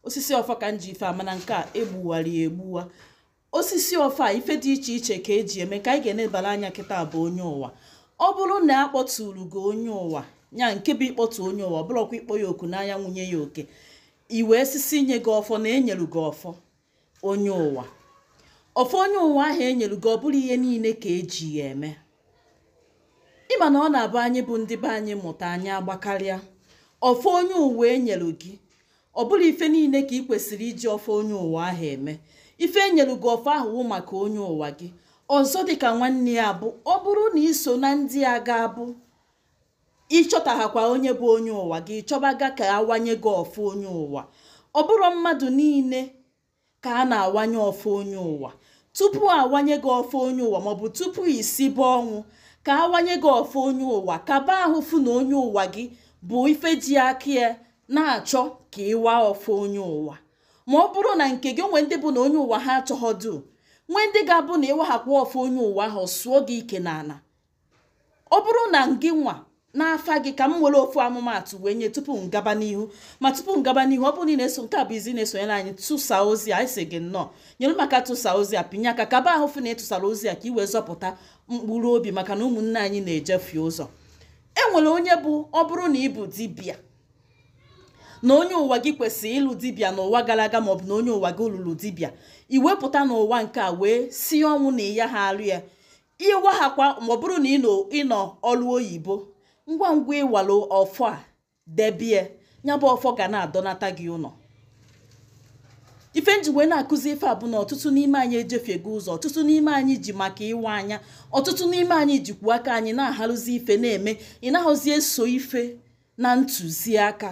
osisi ọfọ ka m ji ife a mana nke a egbuwara ya egbuwa osisi ọfọ ife dị iche iche ka eji eme ka anyị ga-enebara anya kịta bụ onye ụwa ọ bụrụ na a kpọtụrụ gị onye ụwa nya nke bụ ịkpọtụ onye ụwa bụrọkwa ịkpọ ya oku n'anya nwunye ya oke iwe sisi nye gị ọfọ na enyelu gị ọfọ onye ụwa ọfọ onye ụwa ahụ enyelu gị ọ bụrọ ihe niile ka eji ya eme ịma na ọ na-abụ anyị bụ ndị be anyị mụta anyị agbakarịa ọfọ onye ụwa enyelu gị ọ bụrọ ife niile ka ị kwesịrị iji ọfọ onye ụwa ahụ eme ife enyelu gị ọfọ ahụ wụ maka onye ụwa gị ọzọ dịka nwanne ya bụ ọ bụrụ na iso na ndị a ga-abụ ịchọtahakwa onye bụ onye ụwa gị ị chọbaga ka awanye gị ọfọ onye ụwa ọ bụrọ mmadụ niile ka a na-awanye ọfọ onye ụwa tupu awanye gị ọfọ onye ụwa maọbụ tupu isibe ọnwụ ka awanye gị ọfọ onye ụwa kaba ahụ fụ na onye ụwa gị bụ ife ji aka ya na-achọ ka ịwa ọfọ onye ụwa ma ọ bụrụ na nke gị onwe ndị bụ na onye ụwa ha achọghọdu nwee ndị ga-abụ na ịwahakwa ọfọ onye ụwa ahụ sụọ gị ike n'ana ọ bụrụ na ngị nwa n'afa gị ka m were ofu ọmụmaatụ wee nye tupu m gaba n'ihu ma tupu m gaba n'ihu ọ bụrụ na ị na-eso nke a bụ izi na-esonyere anyị tụsa ozi a a sị gị nnọọ nyere m aka tụsa ozi a pinye aka kaba ahụ fụ na ịtụsara ozi a ka i wee zọpụta mkpụrụ obi maka na ụmụnne anyị na-ejefie ụzọ e nwere onye bụ ọ bụrụ na ị bụ dibịa na onye ụwa gị kwesịrị ịlụ dibịa n'ụwa gara aga maọbụ na onye ụwa gị lụrụ dibịa ị wee pụta n'ụwa nke a wee si ọnwụ na ịya ha alụ ya ịwahakwa ma ọ bụrụ na ịnọ ọrụ oyibo ngwa ngwa ịwalụ ọfọ a debie ya bụ ọfọ ga na-adọnata gị ụnọ ife nji wee na-akụzi ife a bụ na ọtụtụ n'ime anyị ejefiego ụzọ ọtụtụ n'ime anyị ji maka ịwa anya ọtụtụ n'ime anyị jikwu aka anyị na-aharụzi ife na-eme ị nahọzi eso ife na ntụziaka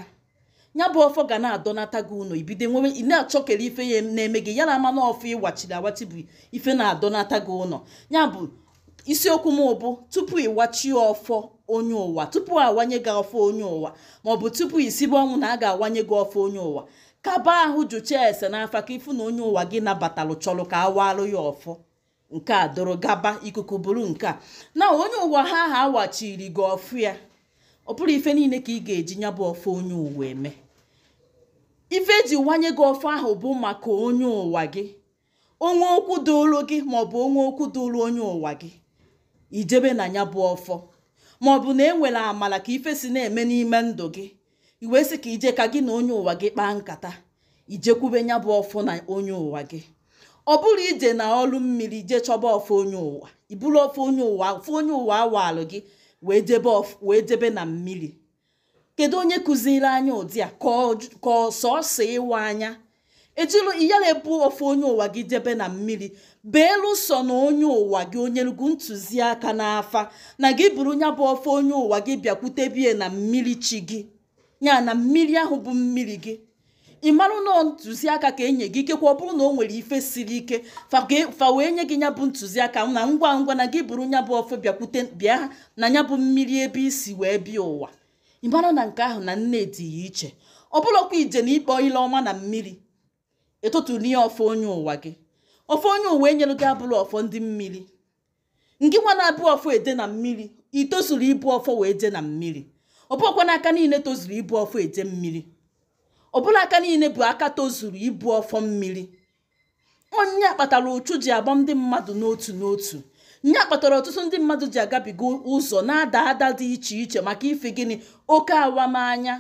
ya bụ ọfọ ga na-adọnata gị ụnọ ibido nwewe ị na-achọkere ife ya na-eme gị ya na ama na ọfọ ịwachiri awachi bụ ife na-adọnata gị ụnọ ya bụ isiokwu m bụ tupu ịwachie ọfọ onye ụwa tupu awanye gị ọfọ onye ụwa maọbụ tupu isibe ọnwụ na a ga-awanye gị ọfọ onye ụwa kaba ahụ jụchaa ese n'afa ka ịfụ na onye ụwa gị nabatalụ chọrọ ka awalụ ya ọfọ nke a doro gaba ikuku buru nke a na onye ụwa ha ha awachiri gị ọfọ ya ọ bụrọ ife niile ka ị ga-eji nya bụ ọfọ onye ụwa eme ife eji wanye gị ọfọ ahụ bụ maka onye ụwa gị onwe okwu doro gị maọbụ onwe okwu doro onye ụwa gị ijebe na nya bụ ọfọ maọbụ na enwere amala ka ife si na-eme n'ime ndụ gị i wee sị ka ije ka gị na onye ụwa gị kpaa nkata ijekwube nya bụ ọfọ na onye ụwa gị ọ bụrụ ije na ọlụ mmiri ije chọba ọfọ onye ụwa iburu ọfọ onye ụwa ọfọ onye ụwa awalụ gị wee jebe ọf- wee jebe na mmiri kedu onye kụziri anyị ụdị a ka ọ- ka ọ sọsọ ịwa anya ejilo iyala ebu ọfọ onye ụwa gị jebe na mmiri beelu sọ na onye ụwa gị o nyelu gị ntụziaka n'afa na gị buru nya bụ ọfọ onye ụwa gị bịakwutebe ya na mmiri chi gị ya na mmiri ahụ bụ mmiri gị ị marụ na ntụziaka ka enye gị ikekwe ọ bụrụ na o nwere ife siri ike fa ga- fa wee nye gị nya bụ ntụziaka na ngwa ngwa na gị buru nya bụ ọfọ bịakwute bịa na nya bụ mmiri ebe i si wee bịa ụwa ị mara na nke ahụ na nne dị ya iche ọ bụlọkwa ije na ikpọ ile ọma na mmiri ịtụtụnie ọfọ onye ụwa gị ọfọ onye ụwa enyelu gị abụrọ ọfọ ndị mmiri ngị nwa na-ebu ọfọ eje na mmiri itozuru ibu ọfọ wee je na mmiri ọ bụlọkwa n'aka niile tozuru ibu ọfọ eje mmiri ọ bụlọ aka niile bụ aka tozuru ibu ọfọ mmiri ọ nya kpatara ụchụ ji agba ndị mmadụ n'otu n'otu nya kpatara ọtụtụ ndị mmadụ ji agabiga ụzọ na-ada ada dị iche iche maka ife gịnị oke awamanya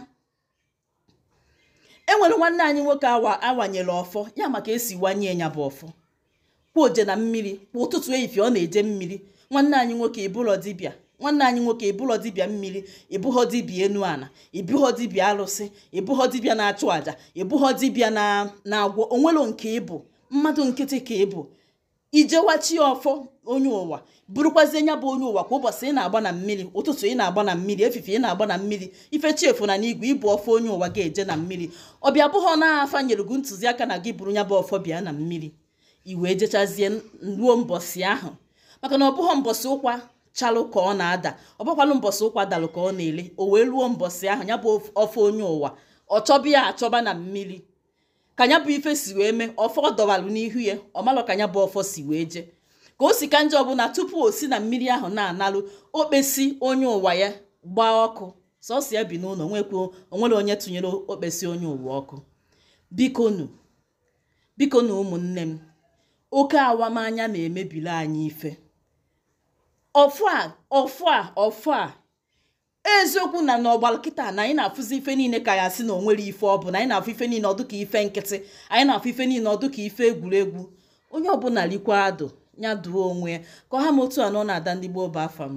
enwere nwanne anyị nwoke awa awanyere ọfọ ya maka esi wanye ya bụ ọfọ kwa oje na mmiri kwa ụtụtụ efife ọ na-eje mmiri nwanne anyị nwoke ịbụrọ dibịa nwanne anyị nwoke ịbụghọ dibịa mmiri ịbụghọ dibịa enu ana ịbụghọ dibịa alụsị ịbụghọ dibịa na-achụ àjà ịbụghọ dibịa na-agwọ onwelo nke ịbụ mmadụ nkịtị ka ịbụ i je wachaa ọfọ onye ụwa burukwazie nya bụ onye ụwa kwa ụbọchị ị na-agba na mmiri ụtụtụ ị na-agba na mmiri efife ị na-agba na mmiri ife chi efo na n'igwe ibu ọfọ onye ụwa gị eje na mmiri ọ bịa bụghọ na afa nyere gị ntụziaka na gị buru nya bụ ọfọ bịa na mmiri i wee jechazie ruo mbọsị ahụ maka na ọ bụghọ mbọsị ụkwa chalụ ka ọ na-ada ọ bụkwanụ mbọsị ụkwa dalụ ka ọ na-ele o wee ruo mbọsị ahụ ya bụ ọfọ onye ụwa ọ chọba ya achọba na mmiri ka ya bụ ife si wee mee ọfọ dọwalụ n'ihu ya ọ malọ ka ya bụ ọfọ si wee jee ka o si ka njọ bụ na tupu o si na mmiri ahụ na-analụ okpesi onye ụwa ya gbaa ọkụ sọsọ ya bi n'ụlọ nwekwa onwero onye tụnyere okpesi onye ụwa ọkụ biko nu biko nụ ụmụnne m oke awamanya na-emebiri anyị ife ọfụ a ọfụ a ọfụ a eziokwu na n'ọgbara kịta na anyị na-afụzi ife niile ka ya sị na onwero ife ọ bụ na anyị na-afụ ife niile ọ dụ ka ife nkịtị anyị na-afụ ife niile ọ dụ ka ife egwuregwu onye ọbụla likwa adụ ya dụọ onwe ya ka ọ ha m otu a nụ na ada ndị gboo bụ afa m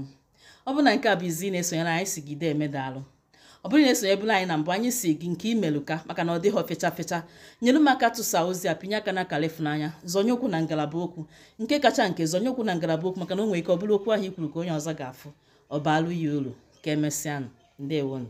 ọ bụrụ na nke a bụ izi ị na-esonyere anyị sị gị deeme daalụ ọ bụrụ ị na-esonyebulu anyị na mbụ anyị sị gị nke imeluka maka na ọ dịghị fecha fecha nyere m aka tụsa ozi a pinye aka na akara ịfụnanya zọnye okwu na ngalaba okwu nke kacha nke zọnye okwu na ngalaba okwu maka na o nwere ike ọ bụrụ okwu ahụ i kwuru ka onye ọzọ ga-afụ ọ baalụ ya uru ka emesịanụ ndewonụ